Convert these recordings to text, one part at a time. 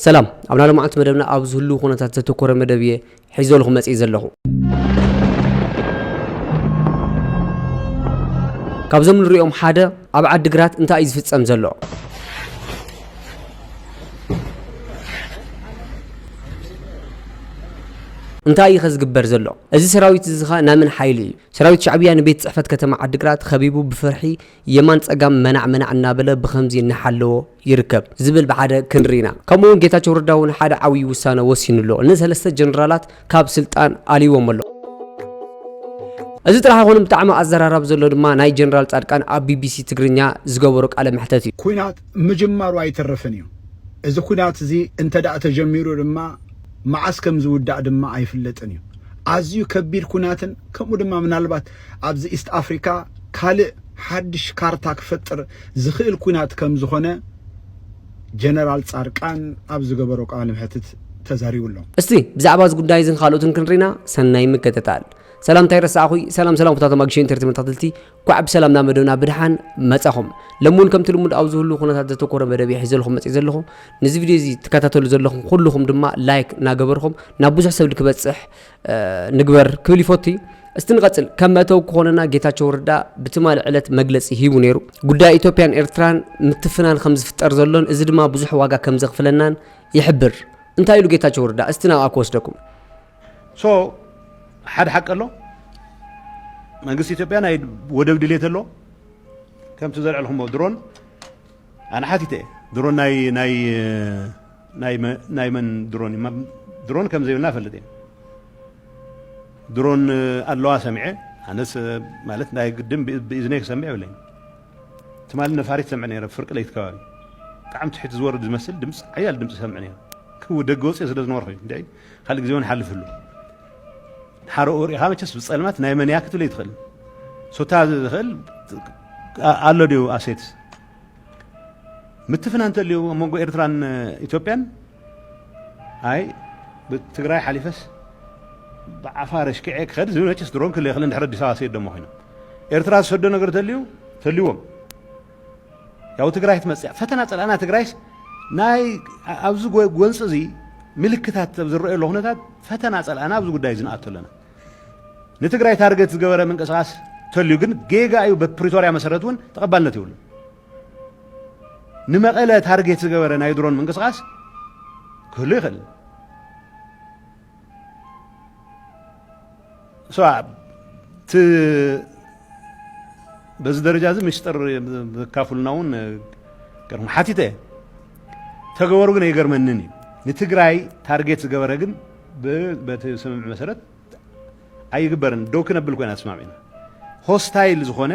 ሰላም ኣብ ናይ ሎምዓንቲ መደብና ኣብ ዝህልው ኩነታት ዘተኮረ መደብ እየ ሒዘልኹ መጺእ ዘለኹ። ካብዞም ንሪኦም ሓደ ኣብ ዓዲ ግራት እንታይ እዩ ዝፍጸም ዘሎ? እንታይ እዩ ከዝግበር ዘሎ እዚ ሰራዊት እዚ ኸ ናይ መን ሓይሊ እዩ ሰራዊት ሻዕብያ ንቤት ፅሕፈት ከተማ ዓዲግራት ኸቢቡ ብፍርሒ የማን ፀጋም መናዕ መናዕ እናበለ ብኸምዚ እናሓለዎ ይርከብ ዝብል ብሓደ ክንርኢ ኢና። ከምኡ እውን ጌታቸው ረዳ እውን ሓደ ዓብዪ ውሳነ ወሲኑ ኣሎ። ንሰለስተ ጀነራላት ካብ ስልጣን ኣልይዎም ኣሎ። እዚ ጥራሕ ኣይኮነን ብጣዕሚ ኣዘራራቢ ዘሎ ድማ ናይ ጀነራል ፃድቃን ኣብ ቢቢሲ ትግርኛ ዝገበሮ ቃለ መሕተት እዩ። ኲናት ምጅማሩ ኣይተርፍን እዩ። እዚ ኲናት እዚ እንተድኣ ተጀሚሩ ድማ መዓስ ከምዝውዳእ ድማ ኣይፍለጥን እዩ። ኣዝዩ ከቢድ ኲናትን ከምኡ ድማ ምናልባት ኣብዚ ኢስት ኣፍሪካ ካልእ ሓድሽ ካርታ ክፈጥር ዝኽእል ኲናት ከምዝኾነ ጀነራል ፃድቃን ኣብ ዝገበሮ ቃለ መሕትት ተዛሪቡ ኣሎ። እስቲ ብዛዕባ እዚ ጉዳይ እዝን ካልኦትን ክንሪና ሰናይ ምክትታል። ሰላም እንታይ ረሳዕኹይ ሰላም ሰላም ኩታቶም ኣግሽን ኢንተርቴመንት ተኸትልቲ ኳዕ ብሰላም ናብ መደብና ብድሓን መጻኹም ሎሚ እውን ከምቲ ልሙድ ኣብ ዝህሉ ኩነታት ዘተኮረ መደብ እየ ሒዘልኹም መጽእ ዘለኹ ንዚ ቪድዮ እዚ ትከታተሉ ዘለኹም ኩልኹም ድማ ላይክ ናገበርኹም ናብ ብዙሕ ሰብ ክበጽሕ ንግበር ክብል ይፈቱ እዩ። እስቲ ንቐጽል ከም መእተዊ ክኾነና ጌታቸው ረዳ ብትማሊ ዕለት መግለጺ ሂቡ ነይሩ። ጉዳይ ኢትዮጵያን ኤርትራን ምትፍናን ከም ዝፍጠር ዘሎን እዚ ድማ ብዙሕ ዋጋ ከም ዘኽፍለናን ይሕብር። እንታይ ኢሉ ጌታቸው ረዳ? እስቲ ናብኣ ክወስደኩም። ሶ ሓደ ሓቂ ኣሎ መንግስቲ ኢትዮጵያ ናይ ወደብ ድሌት ኣሎ ከምቲ ዘልዕልኩሞ ድሮን ኣነ ሓቲተ እየ ድሮን ናይ ናይ ናይ መን ድሮን እዩ ድሮን ከም ዘይብልና እፈልጥ እየ ድሮን ኣለዋ ሰሚዐ ኣነስ ማለት ናይ ግድን ብእዝነይ ክሰምዕ የብለይን ትማሊ ነፋሪት ሰምዕ ነይረ ፍርቂ ለይቲ ከባቢ ብጣዕሚ ትሕቲ ዝወርድ ዝመስል ድምፂ ሓያል ድምፂ ሰምዕ ነይረ ክው ደገ ወፅኦ ስለ ዝነበርኩ እዩ እንድዒ ካልእ ግዜ እውን ሓልፍ ህሉ ሓረኡ ሪኢኻ መቸስ ብፀልማት ናይ መን እያ ክትብለይ ትኽእል ሶታ ዝኽእል ኣሎ ድዩ ኣሴት ምትፍናን እንተልዩ ኣብ መንጎ ኤርትራን ኢትዮጵያን ኣይ ብትግራይ ሓሊፈስ ብዓፋር ኣሽኪዐ ክኸድ ዝብል መቸስ ድሮን ክል የኽልን ድሕሪ ኣዲስ ኣበባ ሰይዶሞ ኮይኖም ኤርትራ ዝሰዶ ነገር ተልዩ ተልዎም ያው ትግራይ ትመፅያ ፈተና ፀላእና ትግራይስ ናይ ኣብዚ ጎንፂ እዚ ምልክታት ዝረአየሉ ኩነታት ፈተና ፀላእና ኣብዚ ጉዳይ እዚ ንኣቶ ኣለና ንትግራይ ታርገት ዝገበረ ምንቅስቃስ ተልዩ ግን ጌጋ እዩ በፕሪቶርያ መሰረት እውን ተቐባልነት ይብሉ ንመቐለ ታርጌት ዝገበረ ናይ ድሮን ምንቅስቃስ ክህሉ ይኽእል እቲ በዚ ደረጃ እዚ ምስጢር ዘካፍሉና እውን ገርሞ ሓቲተ ተገበሩ ግን ኣይገርመንን እዩ ንትግራይ ታርጌት ዝገበረ ግን ብ በቲ ስምምዕ መሰረት ኣይግበርን ደው ክነብል ኮይና ተስማሚዕና ሆስታይል ዝኾነ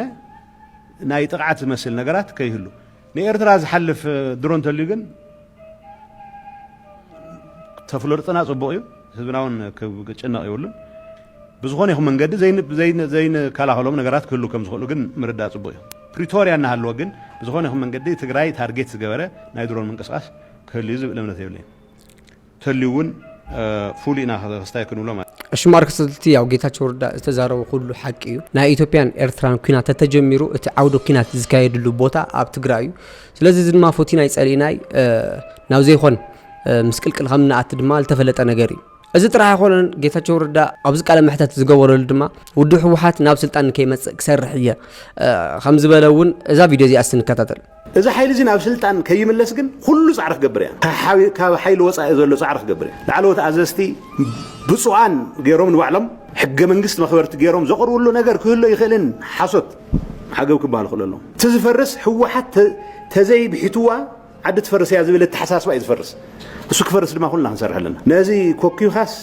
ናይ ጥቕዓት ዝመስል ነገራት ከይህሉ ንኤርትራ ዝሓልፍ ድሮ እንተልዩ ግን ተፍለርጥና ጽቡቕ እዩ ህዝብና እውን ክጭነቕ ይብሉን ብዝኾነ ይኹን መንገዲ ዘይንከላኸሎም ነገራት ክህሉ ከም ዝኽእሉ ግን ምርዳእ ጽቡቕ እዩ ፕሪቶርያ እናሃለወ ግን ብዝኾነ ይኹን መንገዲ ትግራይ ታርጌት ዝገበረ ናይ ድሮን ምንቅስቃስ ክህሉ እዩ ዝብል እምነት የብለይን ተልዩ ውን ፉል ኢና ክስታይ ክንብሎ ማለት። እሺ ማርክስ እቲ ያው ጌታቸው ረዳ ዝተዛረቦ ኩሉ ሓቂ እዩ ናይ ኢትዮጵያን ኤርትራን ኩናት ተተጀሚሩ እቲ ዓውደ ኩናት ዝካየድሉ ቦታ ኣብ ትግራይ እዩ ስለዚ እዚ ድማ ፎቲናይ ጸሊእናይ ናብ ዘይኮን ምስቅልቅል ከም ንኣቲ ድማ ዝተፈለጠ ነገር እዩ እዚ ጥራሕ ኣይኮነን ጌታቸው ረዳ ኣብዚ ቃለ መሕተት ዝገበረሉ ድማ ውድብ ህወሓት ናብ ስልጣን ከይመፅእ ክሰርሕ እየ ከም ዝበለ እውን እዛ ቪድዮ እዚኣ ስንከታተል እዚ ሓይሊ እዚ ናብ ስልጣን ከይምለስ ግን ኩሉ ጻዕሪ ክገብር እያ። ካብ ሓይሊ ወጻኢ ዘሎ ጻዕሪ ክገብር እያ። ላዕለዎት ኣዘዝቲ ብጹኣን ገይሮም ንባዕሎም ሕገ መንግስት መኽበርቲ ገይሮም ዘቕርብሉ ነገር ክህሉ ይኽእልን ሓሶት ዓገብ ክበሃል ክእሎ ኣለዎ። እቲ ዝፈርስ ህወሓት ተዘይ ብሒትዋ ዓዲ ትፈርስ እያ ዝብል ኣተሓሳስባ እዩ ዝፈርስ። እሱ ክፈርስ ድማ ኩልና ክንሰርሕ ኣለና። ነዚ ኮኪብካስ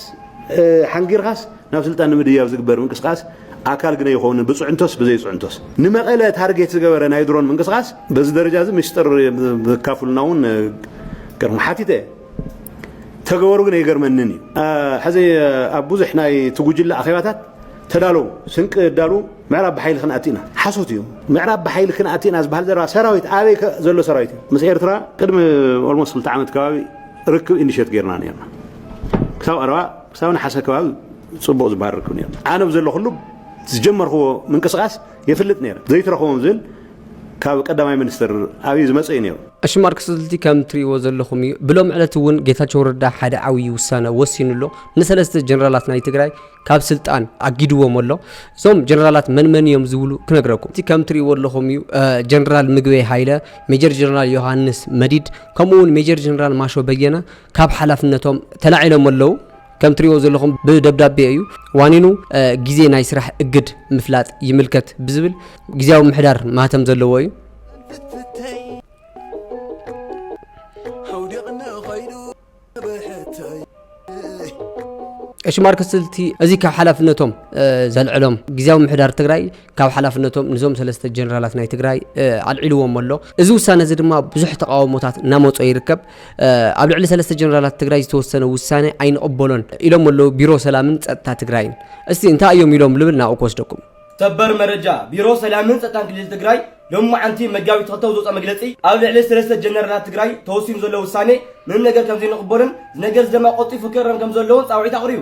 ሓንጊርካስ ናብ ስልጣን ንምድያብ ዝግበር ምንቅስቃስ ኣካል ግና ኣይኮኑን ብፅዕንቶስ ብዘይፅዕንቶስ። ንመቐለ ታርጌት ዝገበረ ናይ ድሮን ምንቅስቓስ በዚ ደረጃ እዚ ምስጢር ዘካፍሉና እውን ገርም ሓቲተ እየ ተገበሩ ግን ኣይገርመንን እዩ። ሕዚ ኣብ ብዙሕ ናይቲ ጉጅለ ኣኼባታት ተዳለዉ ስንቂ እዳሉ ምዕራብ ብሓይሊ ክንኣቲ ኢና ሓሶት እዩ። ምዕራብ ብሓይሊ ክንኣቲ ኢና ዝበሃል ዘረባ ሰራዊት ኣበይ ዘሎ ሰራዊት እዩ? ምስ ኤርትራ ቅድሚ ኦልሞስት ክልተ ዓመት ከባቢ ርክብ ኢንዲሸት ጌርና ነርና ክሳብ ቀረባ ክሳብ ነሓሰ ከባቢ ጽቡቅ ዝባርኩ ኔሩ ኣነ ብዘለኹሉ ዝጀመርክዎ ምንቅስቃስ የፍልጥ ኔረ ዘይትረኽቦም ዝብል ካብ ቀዳማይ ምኒስተር ኣብይ ዝመጸ እዩ ኔሩ። እሺ ማርክ ስልቲ ከም ትሪእዎ ዘለኹም እዩ ብሎሚ ዕለት እውን ጌታቸው ረዳ ሓደ ዓብይ ውሳነ ወሲኑ ኣሎ ንሰለስተ ጀነራላት ናይ ትግራይ ካብ ስልጣን ኣጊድዎም ኣሎ እዞም ጀነራላት መን መን እዮም ዝብሉ ክነግረኩም እቲ ከም ትሪእዎ ኣለኹም እዩ ጀነራል ምግበይ ሃይለ ሜጀር ጀነራል ዮሃንስ መዲድ ከምኡ እውን ሜጀር ጀነራል ማሾ በየነ ካብ ሓላፍነቶም ተላዒሎም ኣለው ከም ትሪእዎ ዘለኹም ብደብዳቤ እዩ ዋኒኑ ግዜ ናይ ስራሕ እግድ ምፍላጥ ይምልከት ብዝብል ግዜያዊ ምሕዳር ማህተም ዘለዎ እዩ። ቀሺ ማርክ ስልቲ እዚ ካብ ሓላፍነቶም ዘልዕሎም ግዜያዊ ምሕዳር ትግራይ ካብ ሓላፍነቶም ንዞም ሰለስተ ጀነራላት ናይ ትግራይ ኣልዒልዎም ኣሎ እዚ ውሳነ እዚ ድማ ብዙሕ ተቃውሞታት እናመፆ ይርከብ ኣብ ልዕሊ ሰለስተ ጀነራላት ትግራይ ዝተወሰነ ውሳነ ኣይንቕበሎን ኢሎም ኣለው ቢሮ ሰላምን ፀጥታ ትግራይን። እስቲ እንታይ እዮም ኢሎም ልብል ናብኡ ክወስደኩም። ሰበር መረጃ፣ ቢሮ ሰላምን ፀጥታን ክልል ትግራይ ሎማዕንቲ መጋቢት ክልተ ኣብ ዘውፀኦ መግለፂ ኣብ ልዕሊ ሰለስተ ጀነራላት ትግራይ ተወሲኑ ዘሎ ውሳነ ምንም ነገር ከምዘይንቕበሎን እዚ ነገር እዚ ደማ ቐልጢፉ ክእረም ከምዘለዎን ፃውዒት ኣቕሪቡ።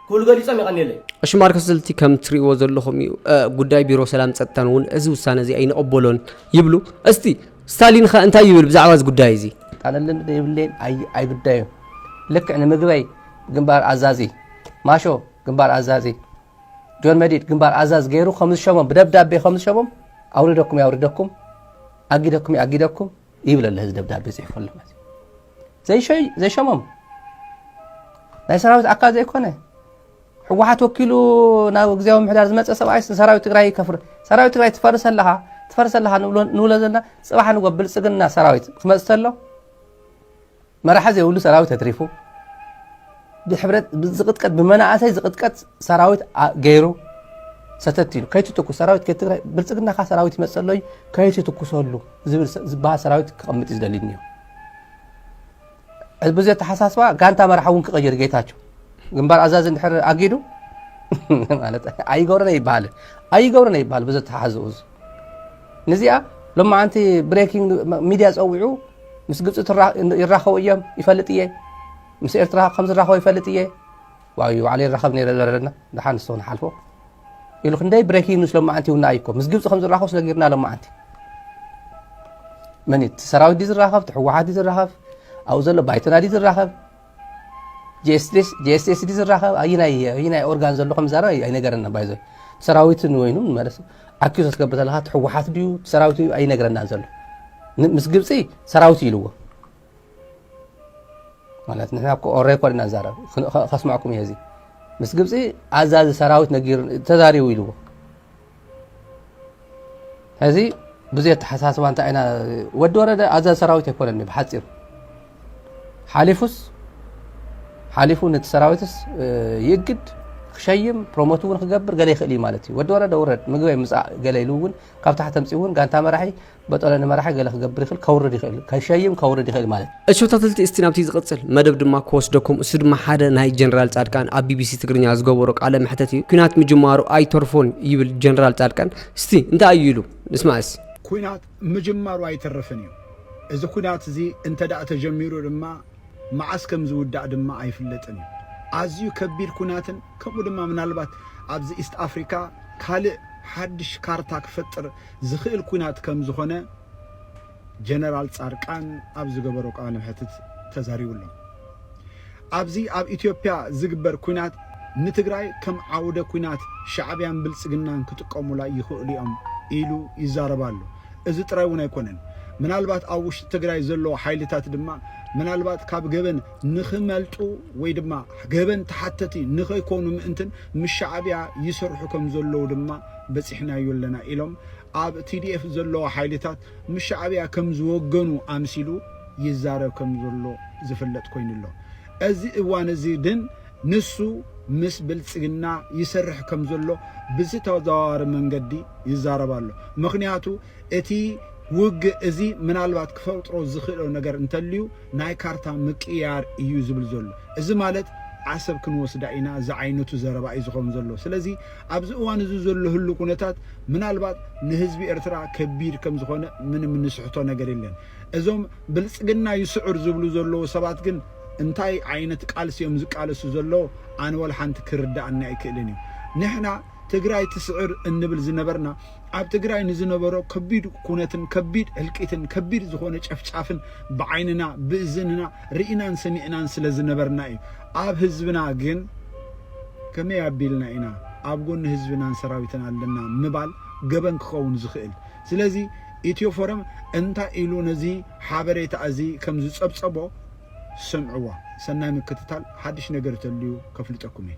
ክብሉ ገሊፆም። የቐንየለይ። እሺ ማርክስልቲ ከም ትሪእዎ ዘለኹም እዩ ጉዳይ ቢሮ ሰላም ጸጥታን እውን እዚ ውሳነ እዚ ኣይንቕበሎን ይብሉ። እስቲ ስታሊንኸ እንታይ ይብል ብዛዕባ እዚ ጉዳይ እዚ? ጣለልን ዘይብለይን ኣይግዳዩ ልክዕ ንምግበይ ግንባር ኣዛዚ ማሾ ግንባር ኣዛዚ ጆን መዲድ ግንባር ኣዛዝ ገይሩ ከም ዝሸሞም ብደብዳቤ ከም ዝሸሞም ኣውርደኩም የውርደኩም ኣጊደኩም የኣጊደኩም ይብል ኣሎ እዚ ደብዳቤ ፅሒፉ ኣሎ ማለት እዩ ዘይሸሞም ናይ ሰራዊት ኣካል ዘይኮነ ሕወሓት ወኪሉ ናብ ግዜያዊ ምሕዳር ዝመፀ ሰብኣይ ሰራዊት ትግራይ ይከፍር ሰራዊት ትግራይ ትፈርስ ኣለኻ ትፈርስ ኣለኻ ንብሎ ዘለና ፅባሕ ንጎ ብልፅግና ሰራዊት ክመፅ ተሎ መራሒ ዘይብሉ ሰራዊት ኣትሪፉ ብሕብረት ዝቅጥቀጥ ብመናእሰይ ዝቅጥቀጥ ሰራዊት ገይሩ ሰተት ኢሉ ከይትትኩስ ሰራዊት ከትግራይ ብልፅግና ካ ሰራዊት ይመፀሎ እዩ ከይትትኩሰሉ ዝበሃል ሰራዊት ክቐምጥ እዩ ዝደሊ እኒኦ ብዙ ኣተሓሳስባ ጋንታ መራሒ እውን ክቐይር ጌታቸው ግንባር ኣዛዚ እንድሕር ኣጊዱ ማለት ኣይገብረን ኣይበሃል ኣይገብረን ኣይበሃል ብዙ ተሓዝኡ ንዚኣ ሎማዓንቲ ብሬኪንግ ሚድያ ፀዊዑ ምስ ግብፂ ይራኸቡ እዮም ይፈልጥ እየ ምስ ኤርትራ ከም ዝራኸቡ ይፈልጥ እየ ዋዩ ባዕለ ይራኸብ ነረ ዘረለና ድሓን ንስኹ ንሓልፎ ኢሉ ክንደይ ብሬኪንግ ኒውስ ሎማዓንቲ ይውና እዩኮ ምስ ግብፂ ከም ዝራኸቡ ስለጊርና ሎማዓንቲ መን እቲ ሰራዊት ዲ ዝራኸብ እቲ ሕወሓት ዲ ዝራኸብ ኣብኡ ዘሎ ባይቶና ዲ ዝራኸብ ጂኤስኤስዲ ዝራኸብ ኣይናይ ኣይናይ ኦርጋን ዘሎ ከም ዛረብ ኣይነገረና ባይዞ ሰራዊት ንወይኑ መለስ ኣኪዞ ትገብር ዘለካ ትሕወሓት ድዩ ሰራዊት እዩ ኣይነገረና ዘሎ ምስ ግብፂ ሰራዊት ኢልዎ ማለት ንሕና ሬኮርድ ኢና ዛረብ ከስማዕኩም እየ እዚ ምስ ግብፂ ኣዛዚ ሰራዊት ነጊር ተዛሪቡ ኢልዎ ሕዚ ብዙይ ኣተሓሳስባ እንታይ ኢና ወዲ ወረደ ኣዛዝ ሰራዊት ኣይኮነኒ ብሓፂሩ ሓሊፉስ ሓሊፉ ነቲ ሰራዊትስ ይእግድ ክሸይም ፕሮሞት እውን ክገብር ገለ ይኽእል እዩ ማለት እዩ ወዲ ወረደ ውረድ ምግበይ ምፃእ ገለ ኢሉ እውን ካብ ታሕቲ ተምፂ እውን ጋንታ መራሒ በጦለ ንመራሒ ገለ ክገብር ይኽእል ከውርድ ይኽእል ከሸይም ከውርድ ይኽእል ማለት እሾ ተትልቲ እስቲ ናብቲ ዝቕጽል መደብ ድማ ክወስደኩም እሱ ድማ ሓደ ናይ ጀነራል ጻድቃን ኣብ ቢቢሲ ትግርኛ ዝገበሮ ቃለ መሕተት እዩ ኩናት ምጅማሩ ኣይተርፎን ይብል ጀነራል ጻድቃን እስቲ እንታይ እዩ ኢሉ ንስማዕ እስ ኩናት ምጅማሩ ኣይተርፍን እዩ እዚ ኩናት እዚ እንተ ተጀሚሩ ድማ መዓስ ከም ዝውዳእ ድማ ኣይፍለጥን እዩ ኣዝዩ ከቢድ ኩናትን ከምኡ ድማ ምናልባት ኣብዚ ኢስት ኣፍሪካ ካልእ ሓድሽ ካርታ ክፈጥር ዝኽእል ኲናት ከምዝኾነ ጀነራል ፃርቃን ኣብ ዝገበሮ ቃለ መሕትት ተዛሪቡ ኣሎ። ኣብዚ ኣብ ኢትዮጵያ ዝግበር ኲናት ንትግራይ ከም ዓውደ ኲናት ሻዕብያን ብልፅግናን ክጥቀሙላ ይኽእሉ እዮም ኢሉ ይዛረብ ኣሎ። እዚ ጥራይ እውን ኣይኮነን ምናልባት ኣብ ውሽጢ ትግራይ ዘለዉ ሓይልታት ድማ ምናልባት ካብ ገበን ንኽመልጡ ወይ ድማ ገበን ተሓተቲ ንኸይኮኑ ምእንትን ምስ ሻዕብያ ይሰርሑ ከምዘለዉ ድማ በጺሕናዮ ኣለና ኢሎም ኣብ TDF ዘለዉ ሓይልታት ምስ ሻዕብያ ከም ዝወገኑ ኣምሲሉ ይዛረብ ከም ዘሎ ዝፍለጥ ኮይኑ ኣሎ። እዚ እዋን እዚ ግን ንሱ ምስ ብልጽግና ይሰርሕ ከም ዘሎ ብዝተዘዋዋሪ መንገዲ ይዛረብ ኣሎ። ምኽንያቱ እቲ ውግእ እዚ ምናልባት ክፈጥሮ ዝኽእሎ ነገር እንተልዩ፣ ናይ ካርታ ምቅይያር እዩ ዝብል ዘሎ። እዚ ማለት ዓሰብ ክንወስዳ ኢና ዝዓይነቱ ዘረባ እዩ ዝኸውን ዘሎ። ስለዚ ኣብዚ እዋን እዚ ዘሎ ህሉው ኩነታት ምናልባት ንህዝቢ ኤርትራ ከቢድ ከም ዝኾነ ምንም እንስሕቶ ነገር የለን። እዞም ብልጽግና ይስዕር ዝብሉ ዘለዉ ሰባት ግን እንታይ ዓይነት ቃልሲ እዮም ዝቃለሱ ዘለዉ ኣነ ወላ ሓንቲ ክርደኣኒ ኣይክእልን እዩ። ንሕና ትግራይ ትስዕር እንብል ዝነበርና ኣብ ትግራይ ንዝነበሮ ከቢድ ኩነትን ከቢድ ህልቂትን ከቢድ ዝኾነ ጨፍጫፍን ብዓይንና ብእዝንና ርኢናን ሰሚዕናን ስለ ዝነበርና እዩ። ኣብ ህዝብና ግን ከመይ ኣቢልና ኢና ኣብ ጎኒ ህዝብናን ሰራዊትን ኣለና ምባል ገበን ክኸውን ዝኽእል? ስለዚ ኢትዮ ፎረም እንታይ ኢሉ ነዚ ሓበሬታ እዚ ከም ዝጸብጸቦ ስምዕዎ። ሰናይ ምክትታል፣ ሓድሽ ነገር ተልዩ ከፍልጠኩም እየ።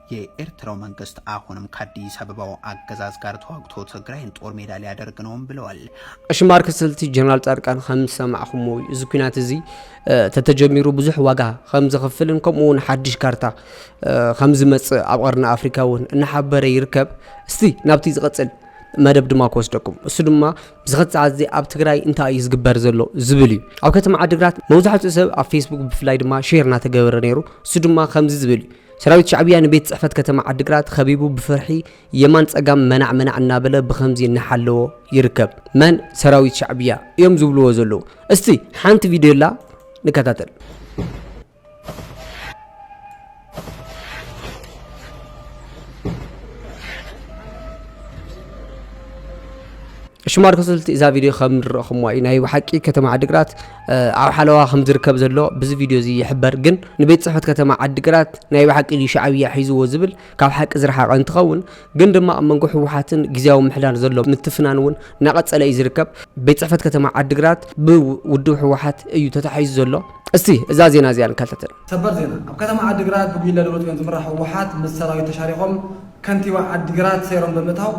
የኤርትራው መንግስት አሁንም ከአዲስ አበባው አገዛዝ ጋር ተዋግቶ ትግራይን ጦር ሜዳ ሊያደርግ ነውም ብለዋል። ቀሺ ማርክ ስልቲ ጀነራል ጻድቃን ከም ዝሰማዕኩሞ እዩ እዚ ኩናት እዚ ተተጀሚሩ ብዙሕ ዋጋ ከም ዘኽፍልን ከምኡ እውን ሓድሽ ካርታ ከም ዝመጽእ ኣብ ቀርኒ ኣፍሪካ እውን እናሓበረ ይርከብ እስቲ ናብቲ ዝቐጽል መደብ ድማ ክወስደኩም እሱ ድማ ብዝኸት ሰዓት እዚ ኣብ ትግራይ እንታይ እዩ ዝግበር ዘሎ ዝብል እዩ ኣብ ከተማ ዓድግራት መብዛሕትኡ ሰብ ኣብ ፌስቡክ ብፍላይ ድማ ሼር እናተገበረ ነይሩ እሱ ድማ ከምዚ ዝብል እዩ ሰራዊት ሻዕብያ ንቤት ጽሕፈት ከተማ ዓዲግራት ኸቢቡ ብፍርሒ የማን ጸጋም መናዕ መናዕ እናበለ ብኸምዚ እናሓለዎ ይርከብ። መን ሰራዊት ሻዕብያ እዮም ዝብልዎ ዘለዉ? እስቲ ሓንቲ ቪድዮ ኣላ ንከታተል። ሽማር ክስልቲ እዛ ቪድዮ ከም ንረኹምዋ እዩ ናይ ብሓቂ ከተማ ዓዲግራት ኣብ ሓለዋ ከም ዝርከብ ዘሎ ብዚ ቪድዮ እዚ ይሕበር ግን ንቤት ፅሕፈት ከተማ ዓዲግራት ናይ ብሓቂ እዩ ሻዕብያ ሒዝዎ ዝብል ካብ ሓቂ ዝረሓቐ እንትኸውን ግን ድማ ኣብ መንጎ ህወሓትን ግዜያዊ ምሕዳር ዘሎ ምትፍናን እውን እናቐፀለ እዩ ዝርከብ ቤት ፅሕፈት ከተማ ዓዲግራት ብውድብ ህወሓት እዩ ተታሒዙ ዘሎ እስቲ እዛ ዜና እዚኣ ንከታተል ሰበር ዜና ኣብ ከተማ ዓዲግራት ብጉጅለ ደብረፅዮን ዝምራሕ ህወሓት ምስ ሰራዊት ተሻሪኾም ከንቲባ ዓዲግራት ሰይሮም ብምእታው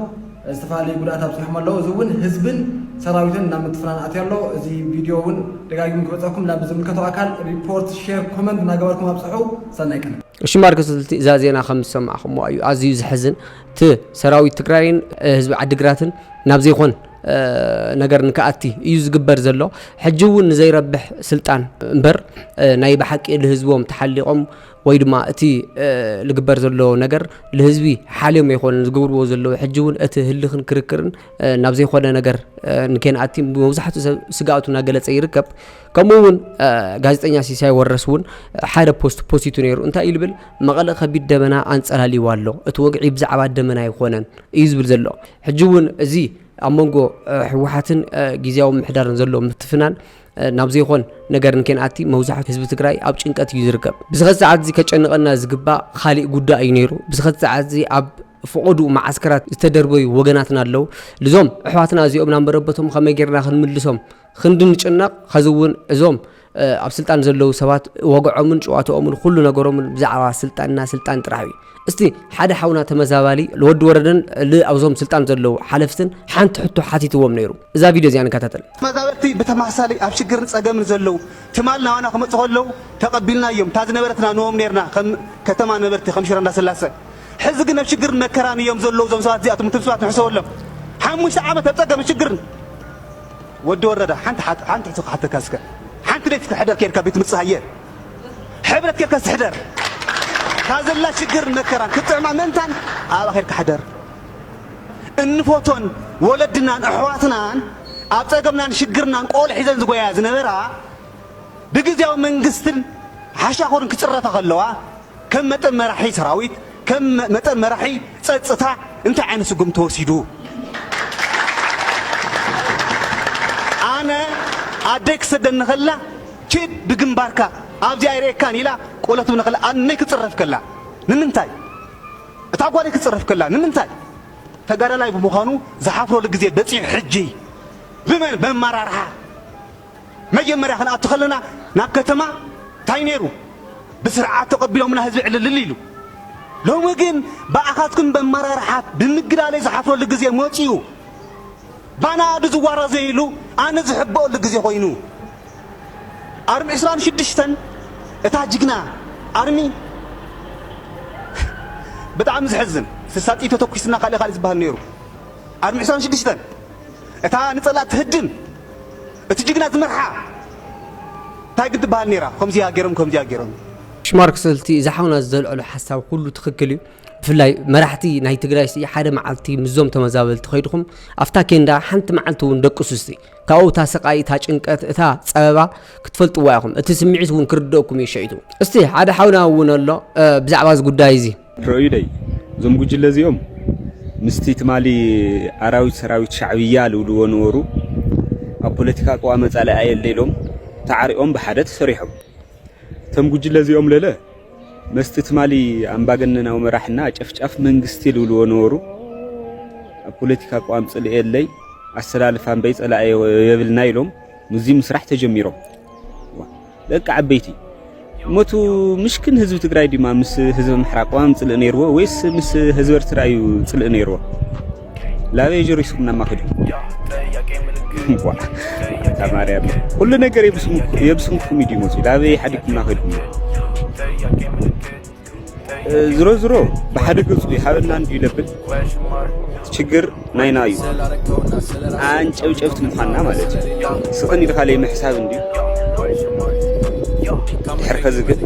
ዝተፈላለዩ ጉድኣት ኣብፂሖም ኣለው። እዚ እውን ህዝብን ሰራዊትን ናብ ምትፍናን ኣትዩ ኣሎ። እዚ ቪድዮ እውን ደጋጊሙ ክበፀኩም ናብ ዝምልከቶ ኣካል ሪፖርት፣ ሼር፣ ኮመንት እናገበርኩም ኣብፅሑ። ሰናይ ቅነ። እሺ ማርከስ ልቲ እዛ ዜና ከም ዝሰማዕኹምዋ እዩ ኣዝዩ ዘሕዝን እቲ ሰራዊት ትግራይን ህዝቢ ዓዲግራትን ናብ ዘይኮን ነገር ንክኣቲ እዩ ዝግበር ዘሎ ሕጂ እውን ንዘይረብሕ ስልጣን እምበር ናይ ብሓቂ ልህዝቦም ተሓሊቖም ወይ ድማ እቲ ልግበር ዘሎ ነገር ልህዝቢ ሓልዮም ኣይኮነን ዝገብርዎ ዘለዉ ሕጂ እውን እቲ ህልኽን ክርክርን ናብ ዘይኮነ ነገር ንኬንኣቲ መብዛሕትኡ ሰብ ስግኣቱ እናገለፀ ይርከብ ከምኡ እውን ጋዜጠኛ ሲሳይ ወረስ እውን ሓደ ፖስት ፖስቱ ነይሩ እንታይ እዩ ዝብል መቐለ ከቢድ ደመና ኣንፀላልይዋ ኣሎ እቲ ወግዒ ብዛዕባ ደመና ኣይኮነን እዩ ዝብል ዘሎ ሕጂ እውን እዚ ኣብ መንጎ ሕወሓትን ግዜያዊ ምሕዳርን ዘሎ ምትፍናን ናብ ዘይኾን ነገር እንከይንኣቲ መብዛሕቱ ህዝቢ ትግራይ ኣብ ጭንቀት እዩ ዝርከብ ብዝኸ ሰዓት እዚ ከጨንቐና ዝግባእ ካሊእ ጉዳይ እዩ ነይሩ ብዝኸ ሰዓት እዚ ኣብ ፍቐዱ መዓስከራት ዝተደርበዩ ወገናትና ኣለዉ ልዞም ኣሕዋትና እዚኦም ናብ መረበቶም ከመይ ጌርና ክንምልሶም ክንዲ ንጭነቕ ኸዚ እውን እዞም ኣብ ስልጣን ዘለዉ ሰባት ወግዖምን ጨዋታኦምን ኩሉ ነገሮምን ብዛዕባ ስልጣንና ስልጣን ጥራሕ እዩ እስቲ ሓደ ሓውና ተመዛባሊ ልወዲ ወረደን ልኣብዞም ስልጣን ዘለዉ ሓለፍትን ሓንቲ ሕቶ ሓቲትዎም ነይሩ እዛ ቪድዮ እዚኣ ንከታተል። ተመዛበልቲ ብተመሳሳሊ ኣብ ሽግርን ጸገምን ዘለዉ ትማል ናባና ክመጹ ከለዉ ተቀቢልናዮም እታ ዝነበረትና ንቦም ነርና ከም ከተማ ነበርቲ ከም ሽረ እንዳስላሰ ሕዚ ግን ኣብ ሽግርን መከራን እዮም ዘለዉ እዞም ሰባት እዚኣቶም እቶም ሰባት ንሕሰበሎም ሓሙሽተ ዓመት ኣብ ጸገምን ሽግርን ወዲ ወረደ ሓንቲ ሕቶ ክሓተካ እስከ ሓንቲ ለይቲ ክትሕደር ኬድካ ቤት ትምጽእ ሃየ ሕብረት ኬርከስ ሕደር እታ ዘላ ሽግርን መከራን ክትጥዕማ ምእንታን ኣብኣ ኬርካ ሕደር እንፎቶን ወለድናን ኣሕዋትናን ኣብ ጸገምናን ሽግርናን ቆል ሒዘን ዝጎያ ዝነበራ ብግዝያዊ መንግስትን ሓሻኹርን ክጽረፋ ከለዋ ከም መጠን መራሒ ሰራዊት፣ ከም መጠን መራሒ ጸጥታ እንታይ ዓይነት ስጉምቲ ተወሲዱ? ኣነ ኣደይ ክትሰደኒ ከላ ኪድ ብግንባርካ ኣብዚ ኣይርእየካን ኢላ ቆሎ ትብለኒ ከላ ኣነ ንነይ ክትጽረፍ ከላ ንምንታይ? እታ ጓለይ ክትጽረፍ ከላ ንምንታይ? ተጋዳላይ ብምዃኑ ዝሓፍረሉ ግዜ በጺሑ ሕጂ ብመን? በኣመራርሓ። መጀመርያ ክንኣቱ ከለና ናብ ከተማ ታይ ነይሩ ብስርዓት ተቀቢሎምና ህዝቢ ዕልልል ኢሉ ሎሚ ግን ብኣኻትኩም በመራርሓት ብምግላለይ ዝሓፍረሉ ግዜ መፂኡ ባናኣዱ ዝዋራዘይሉ ኣነ ዝሕበኦሉ ግዜ ኮይኑ ኣርሚ ዕስራን ሽዱሽተን እታ ጅግና ኣርሚ ብጣዕሚ ዝሕዝን ስሳጥይ ተተኩስና ካሊእ ካሊእ ዝባሃል ነይሩ ኣርሚ ዕስራን ሽዱሽተን እታ ንጸላእ ትህድን እቲ ጅግና ዝመርሓ ታይ ግን ትበሃል ኔራ ከምዚኣ ጌሮም ከምዚኣ ጌሮም። ሽማርክሰ እቲ እዚ ሓውና ዘልዐሎ ሓሳብ ኩሉ ትኽክል እዩ ብፍላይ መራሕቲ ናይ ትግራይ ሲ ሓደ መዓልቲ ምስዞም ተመዛበልቲ ከይድኹም ኣብታ ኬንዳ ሓንቲ መዓልቲ እውን ደቅሱ እስቲ ካብኡ እታ ስቃይ እታ ጭንቀት እታ ፀበባ ክትፈልጥዋ ኢኹም እቲ ስምዒት እውን ክርደእኩም እዩ ሸይቱ እስቲ ሓደ ሓውና እውን ኣሎ ብዛዕባ እዚ ጉዳይ እዚ ርኣዩለይ እዞም ጉጅለ እዚኦም ምስቲ ትማሊ ኣራዊት ሰራዊት ሻዕብያ ልብልዎ ነበሩ ኣብ ፖለቲካ ቅዋመ ጻላኢ የለ ኢሎም ተዓሪኦም ብሓደ ተሰሪሖም እቶም ጉጅለ እዚኦም ለለ መስቲ ትማሊ ኣምባገነናዊ መራሕና ጨፍጫፍ መንግስቲ ልብልዎ ነበሩ ኣብ ፖለቲካ ቅዋም ጽል የለይ ኣሰላልፋ እምበይ ጸላኢ የብልና ኢሎም ምዚ ምስራሕ ተጀሚሮም ደቂ ዓበይቲ መቱ ምሽክን ህዝቢ ትግራይ ድማ ምስ ህዝቢ ምሕራ ቅዋም ጽልእ ነይርዎ ወይስ ምስ ህዝቢ ኤርትራ እዩ ጽልእ ነይርዎ? ላበይ ጆሪስኩም ናማኺዱ ተማርያ ኩሉ ነገር የብስንኩም እዩ ድዩ መፅኡ ላበይ ሓዲግኩምና ከድኩም ዝሮ ዝሮ ብሓደ ገጹ ይሃበና እንድዩ ለብል ችግር ናይና እዩ ኣንጨብጨብቲ ምዃንና ማለት እዩ ስቕን ኢልካ ለይምሕሳብ እንድዩ ድሕር ከዚ ግን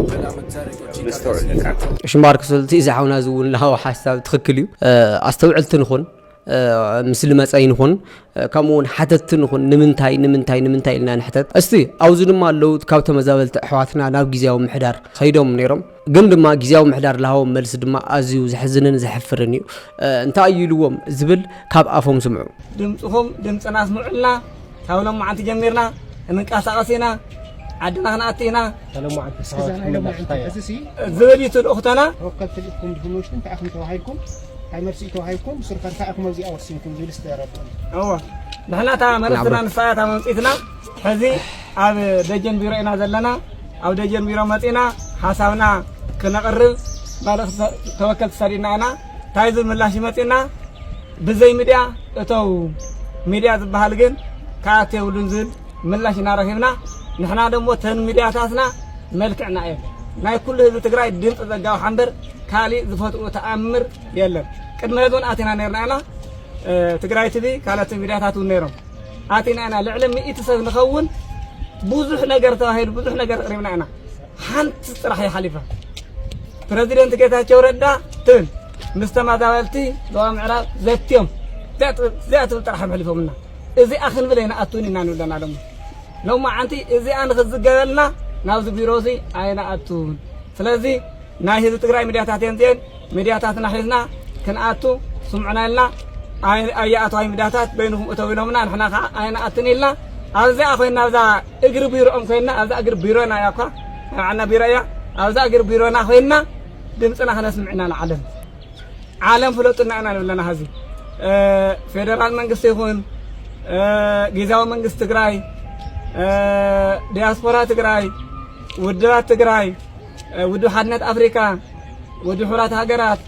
መስተውዕል ለካ ሽማር ክሰልቲ እዚ ሓውና እዚ እውን ለሃዊ ሓሳብ ትኽክል እዩ ኣስተውዕልቲ ንኹን ምስሊ መፀይ ንኹን ከምኡ እውን ሓተትቲ ንኹን ንምንታይ ንምንታይ ንምንታይ ኢልና ንሕተት እስቲ ኣብዚ ድማ ኣለዉ ካብ ተመዛበልቲ ኣሕዋትና ናብ ግዜያዊ ምሕዳር ከይዶም ነይሮም ግን ድማ ግዜያዊ ምሕዳር ዝሃቦም መልሲ ድማ ኣዝዩ ዘሕዝንን ዘሕፍርን እዩ እንታይ እዩ ኢልዎም ዝብል ካብ ኣፎም ስምዑ ድምፅኹም ድምፅና ስምዑልና ካብ ሎማዓንቲ ጀሚርና ክንንቀሳቐስ ኢና፣ ዓድና ክንኣቲ ኢና ዝብል እዩ እቲ ልኡኽቶና። ተወከልቲ ልኢኽኩም ድኹም ውሽጢ እንታይ ኢኹም ተባሂልኩም እንታይ መልሲ እዩ ተዋሂብኩም ንስኹም ከ እንታይ ኢኹም ኣብዚኣ ወሲንኩም ዝብል እስቲ ኣረድኡኒ። እወ ንሕና እታ መልእኽትና ንሳ እያ እታ መምፅኢትና ሕዚ ኣብ ደጀን ቢሮ ኢና ዘለና ኣብ ደጀን ቢሮ መፂና ሓሳብና ክነቕርብ መልእኽቲ ተወከልቲ ሰዲድና ኢና ታይ ዝብል ምላሽ ይመፅና ብዘይ ሚድያ እተው ሚድያ ዝባሃል ግን ክኣቱ የብሉን ዝብል ምላሽ ኢና ረኺብና ንሕና ደሞ እተን ሚድያታትና መልክዕና እየን ናይ ኩሉ ህዝቢ ትግራይ ድምፂ ዘጋውሓ እምበር ካሊእ ዝፈትኡ ተኣምር የለን ቅድሚ ሕዚ እውን ኣቲና ነርና ኢና ትግራይ ትቪ ካልኦት ሚድያታት እውን ነይሮም ኣቲና ኢና ልዕሊ ሚእቲ ሰብ ንኸውን ብዙሕ ነገር ተባሂሉ ብዙሕ ነገር ቅሪብና ኢና ሓንቲ ጥራሕ እያ ሓሊፋ ፕረዚደንት ጌታቸው ረዳ ትብል ምስ ተመዛበልቲ ዞባ ምዕራብ ዘትዮም እዚኣ ትብል ጥራሕ እዮም ሕሊፎምና እዚኣ ክንብል ኣይንኣቱን ኢና ንብለና ደሞ ሎማዓንቲ እዚኣ ንክዝገበልና ናብዚ ቢሮ እዚ ኣይንኣቱን ስለዚ ናይ ህዝቢ ትግራይ ሚድያታት እየን እዚአን ሚድያታትና ሒዝና ክንኣቱ ስምዑና ኢልና ኣይኣትዋይ ሚድያታት በይንኹም እተው ኢሎምና ንሕና ከዓ ኣይንኣትን ኢልና ኣብዚኣ ኮይና ኣብዛ እግሪ ቢሮኦም ኮይና ኣብዛ እግሪ ቢሮና እያ እኳ ናብዓና ቢሮ እያ ኣብዛ እግሪ ቢሮና ኮይና ድምፅና ክነስምዕ ኢና ንዓለም ዓለም ፍለጡና ኢና ንብለና ሀዚ ፌደራል መንግስቲ ይኹን ጊዜያዊ መንግስቲ ትግራይ ዲያስፖራ ትግራይ ውድባት ትግራይ ውድብ ሓድነት ኣፍሪካ፣ ውድብ ሕቡራት ሃገራት፣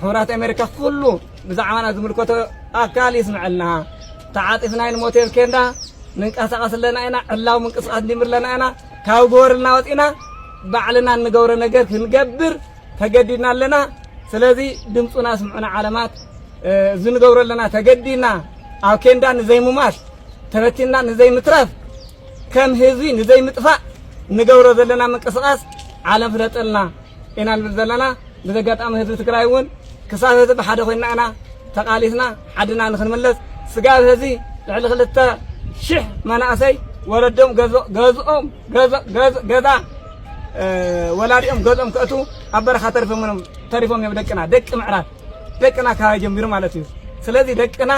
ሕቡራት ኣሜሪካ ኩሉ ብዛዕባና ዝምልከቶ ኣካል ይስምዐልና። ተዓጢፍና ንሞቴል ኬንዳ ንንቀሳቐስ ኣለና ኢና፣ ዕላዊ ምንቅስቓስ ንጅምር ኣለና ኢና፣ ካብ ጎበርልና ወፂእና ባዕልና እንገብሮ ነገር ክንገብር ተገዲድና ኣለና። ስለዚ ድምፁና ስምዑና ዓለማት እዚ ንገብሮ ኣለና ተገዲድና ኣብ ኬንዳ ንዘይምማት ተበቲንና ንዘይምትረፍ ከም ህዝቢ ንዘይምጥፋእ ንገብሮ ዘለና ምንቅስቃስ ዓለም ፍለጠልና ኢና ንብል ዘለና። ብዚ ኣጋጣሚ ህዝቢ ትግራይ እውን ክሳብ ህዝቢ ሓደ ኮይና ኢና ተቃሊስና ዓድና ንክንምለስ ስጋብ ህዚ ልዕሊ ክልተ ሽሕ መናእሰይ ወለዶም ገዝኦም ገዛ ወላዲኦም ገዝኦም ከእቱ ኣብ በረኻ ተሪፎም እዮም ደቅና ደቂ ምዕራብ ደቅና ካባይ ጀሚሩ ማለት እዩ። ስለዚ ደቅና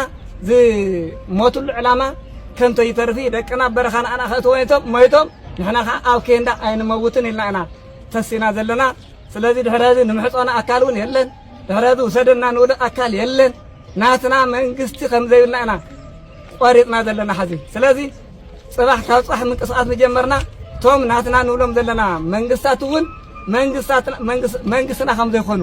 ዝሞትሉ ዕላማ ከንቶ ይተርፊ ደቅና ኣብ በረኻ ንኣና ከእትወ ሞይቶም ንሕና ከዓ ኣብ ኬንዳ ኣይንመውትን ኢልና ኢና ተሲና ዘለና። ስለዚ ድሕሪ ህዚ ንምሕፀኖ ኣካል እውን የለን። ድሕሪ ህዚ ውሰደና ንብሎ ኣካል የለን። ናትና መንግስቲ ከም ዘይብልና ኢና ቆሪፅና ዘለና ሕዚ ስለዚ ጽባሕ ካብ ጻሕ ምንቅስቓስ ምጀመርና እቶም ናትና ንብሎም ዘለና መንግስታት እውን መንግስትና ከም ዘይኮኑ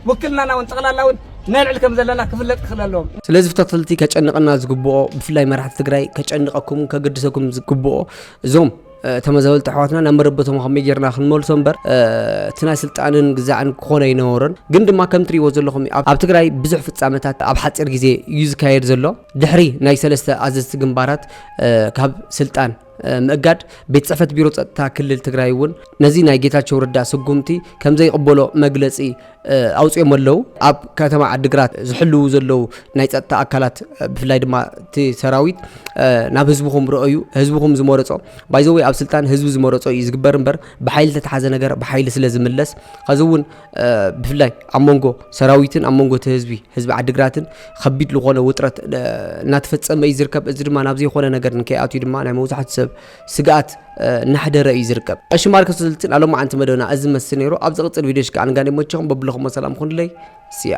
ውክልናና እውን ጠቕላላ እውን ነልዕል ከም ዘለና ክፍለጥ ክኽእል ኣለዎም። ስለዚ ፍተትልቲ ከጨንቐና ዝግብኦ ብፍላይ መራሕቲ ትግራይ ከጨንቐኩም ከገድሰኩም ዝግብኦ እዞም ተመዛበልቲ ኣሕዋትና ናብ መረበቶም ከመይ ጌርና ክንመልሶ እምበር እቲ ናይ ስልጣንን ግዛዕን ክኾነ ኣይነበሮን ግን ድማ ከም ትሪእዎ ዘለኹም ኣብ ትግራይ ብዙሕ ፍፃመታት ኣብ ሓፂር ግዜ እዩ ዝካየድ ዘሎ ድሕሪ ናይ ሰለስተ ኣዘዝቲ ግንባራት ካብ ስልጣን ምእጋድ ቤት ፅሕፈት ቢሮ ፀጥታ ክልል ትግራይ እውን ነዚ ናይ ጌታቸው ረዳ ስጉምቲ ከምዘይቕበሎ መግለፂ ኣውፅኦም ኣለው ኣብ ከተማ ዓዲግራት ዝሕልው ዘለው ናይ ፀጥታ ኣካላት ብፍላይ ድማ እቲ ሰራዊት ናብ ህዝብኹም ረአዩ ህዝብኹም ዝመረፆ ባይዘወይ ኣብ ስልጣን ህዝቢ ዝመረፆ እዩ ዝግበር እምበር ብሓይሊ ተተሓዘ ነገር ብሓይሊ ስለ ዝምለስ ከዚ እውን ብፍላይ ኣብ መንጎ ሰራዊትን ኣብ መንጎ እቲ ህዝቢ ህዝቢ ዓዲግራትን ከቢድ ዝኾነ ውጥረት እናተፈፀመ እዩ ዝርከብ እዚ ድማ ናብ ዘይኮነ ነገር ንከይኣትዩ ድማ ናይ መብዛሕቱ ሰብ ስግኣት እናሕደረ እዩ ዝርከብ እሺ ማርከስ ስልትን ኣሎ መዓንቲ መደብና እዚ መስል ነይሩ ኣብ ዝቕፅል ቪድዮ ሽከ ኣንጋን ይመቸኹም በብለኹሞ ሰላም ኩንለይ ስያ